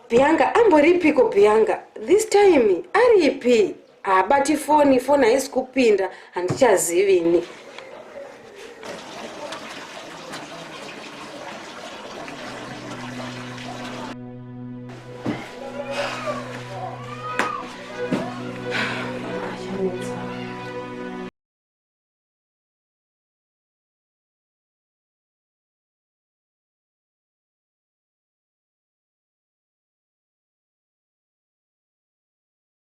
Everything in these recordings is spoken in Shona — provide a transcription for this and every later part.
Bianca amboripiko Bianca this time aripi haabati foni foni haisi kupinda handichazivi ini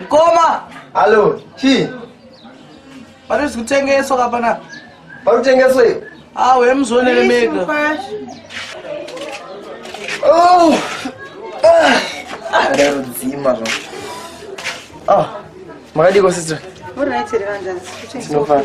Mkoma. Hello, chi. Pari zvikutengeswa kapana. Pari kutengeswa iyo. Ah, we mzonere mega. Oh. Ah. Ah, rero dzima zvo. Ah. Makadiko sister. All right, Revanda. Tinofana.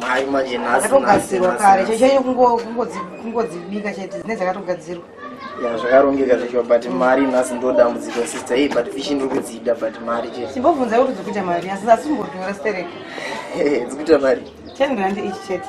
mai manje nhasatogadzirwa kare chaichai kungodzibika chete dzine dzakatogadzirwa ya zvakarongeka zvacho but mari nhasi ndo dambudziko sister hey but fishi ndiri kudzida but mari chete chimbobvunza kuti dzikuita mari asi asi umbodhura stereka dzikuita mari ten rand ichi chete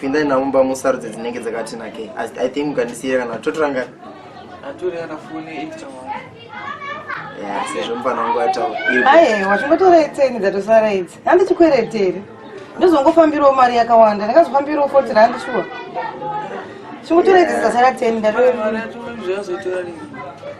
pindai navo mumba musarudze dzinenge dzakati nakei i think mukandisiira kana totoranga atorera foni extra wangu sezvo mupana wangu ataura aye watongotora itseni dzatosara idzi handichikweretere ndozongofambirawo mari yakawanda ndakazofambirawo foti randi shuwa chingotora idzi dzasara teni ndatoaa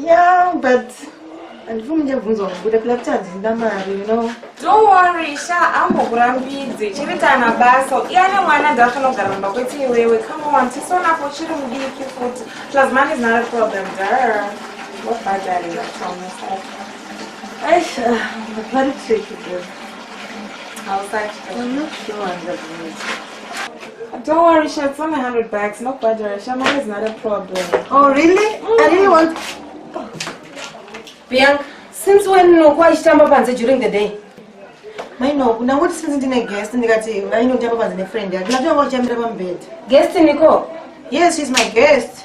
Yeah, but handifuni ndiyabvunza kubuda pila kuti handina mari you know don't worry sha ambokurambidzi chiri tana basa iye ane mwana ndafana kugara mumba kwete iwewe come on tisonapo chiri mudiki futi plus money is not a problem dar wabhadharira chomusaka aisha vari tricky bro hausati i'm not sure handabvunza Don't worry, Sha, it's only 100 bucks. No budget, Sha, money is not a problem. Oh, really? Mm. I really want... Bianca, since when unokuwa ichitamba panze during the day? Maino, ndangoti since ndine guest ndikati vainotamba panze nefriend yake. Ndinatanga kuchambira pamubhedha. Guest niko? Yes, she's my guest.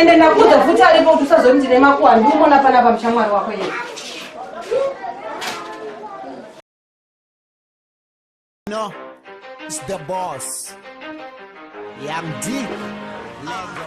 ende ndakuudza futi aripo kuti usazoniti nemakuwa ndiumona panapa muchamwari wako yeye No, it's the boss. Young D. Lego.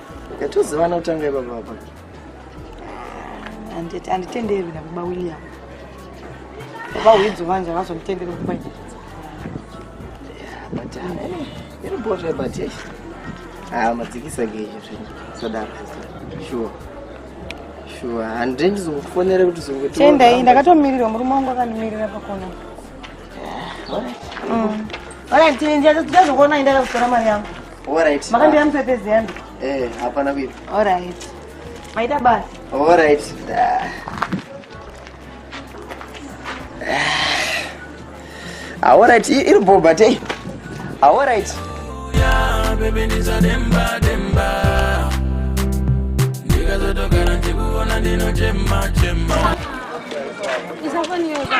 Yatozivana kutanga ibaba apa. Anditi anditenderwi na baba William. Baba Widzo vanje vazomutendera kumba nyika. But anyway, iri bhodha but yes. Ah, madzikisa ke izvo zvinhu. Sadaro. Sure. Sure. Hande ndizokufonera kuti zongoti. Tenda iyi ndakatomirira murume wangu akanimirira pakona. Alright. Mm. Alright, ndiye ndiye ndizokuona ndakakutora mari yangu. Alright. Makambira mupepezi yangu. Eh, hapana kuipa. Alright. Maita basi. Alright. Ah, alright, iri bho but hey. Ah, alright. Yeah, baby ndiza demba demba. Ndikazotogara ndikuona ndinochema chema. Isafoni yoga.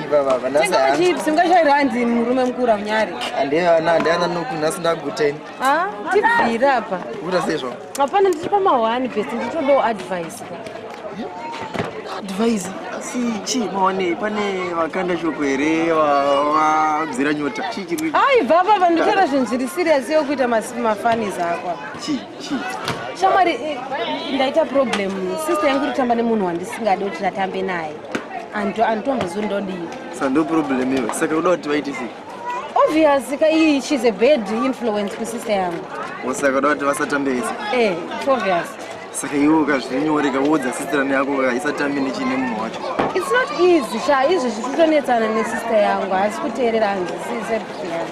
tingachairandi murume mukura unyari andiana noku nhasi ndaguteni ah, tibvire apa guta sezvo hapana ndiri pamahwani best nditodawo advice advice asi chii maonei pane vakanda shoko here vabzira nyota chii chiri aibva apa vanditora zvinhu zviri serious yokuita mafanis akwa chii shamwari eh, ndaita problem sister yangu kutotamba nemunhu wandisingadi kuti ndatambe naye anditombozivi ndodii sando problem iwe saka kuda kuti vaite sei obvious ka iyi she's a bad influence kusister yangu osaka kuda kuti vasatambe vese eh it's obvious saka iwe ukazvinyoreka woudza sisterani yako kaisatambi nechine munhu wacho its not easy sha izvi zvichitonetsana nesister yangu haasi kuteerera hanzi sisebuti yangu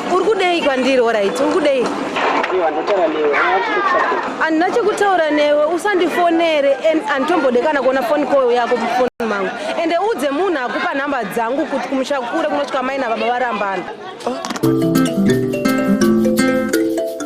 Uri kudei kwandiri orit uri kudei? Handina chekutaura newe usandifonere and handitombode kana kuona foni koyo yako mufoni mangu ende udze munhu akupa nhamba dzangu kuti kumusha kure kunosvika mai nababa varambana. Oh.